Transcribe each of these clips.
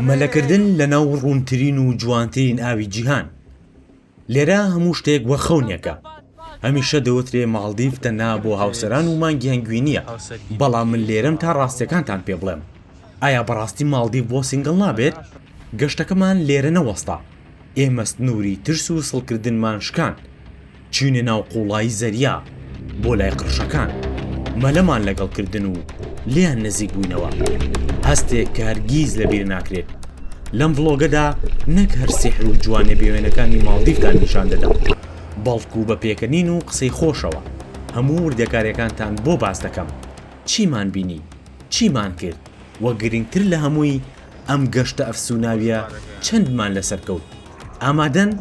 مەلەکردن لەناو ڕوونترین و جوانترین ئاوی جیهان لێرە هەموو شتێک وەک خەونێکە هەمیشە دەوترێ ماڵدیڤ تەنها بۆ هاوسەران و مانگی هەنگوین نییە بەڵام من لێرەم تا ڕاستیەکانتان پێ بڵێم ئایا بەڕاستی ماڵدیڤ بۆ سینگڵ نابێت گەشتەکەمان لێرە نەوەستا ئێمە سنووری ترس و سڵکردنمان شکاند چووینە ناو قوڵایی زەریا بۆ لای قڕشەکان مەلەمان لەگەڵ کردن و لێیان نزیک بووینەوە هەستێک کە هەرگیز لەبیر ناکرێت لەم ڤڵۆگەدا نەک هەر سیحر و جوانێ بێوێنەکانی ماڵدیفتان نیشان دەدەم بەڵکو بە پێکەنین و قسەی خۆشەوە هەموو وردەکارەکانتان بۆ باس دەکەم چیمان بینی چیمان کرد وە گرنگتر لە هەمووی ئەم گەشتە ئەفسوناویە چەندمان لەسەر کەوت ئامادەن؟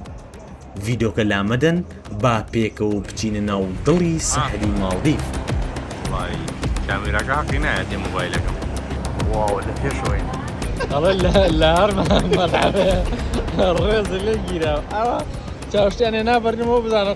ڤیدۆکە لامەدەن با پێکەوە بچینە ناو دڵی سەحری ماڵدیڤ کامێراکە حەقی نایە دێ مۆبایلەکەم واوە لە پێشەوەین ئەڵێ لە هەرمەڵێ ڕێز لێ گیرا ئەوە چاوشتیانێ نابەرنەوە بزانە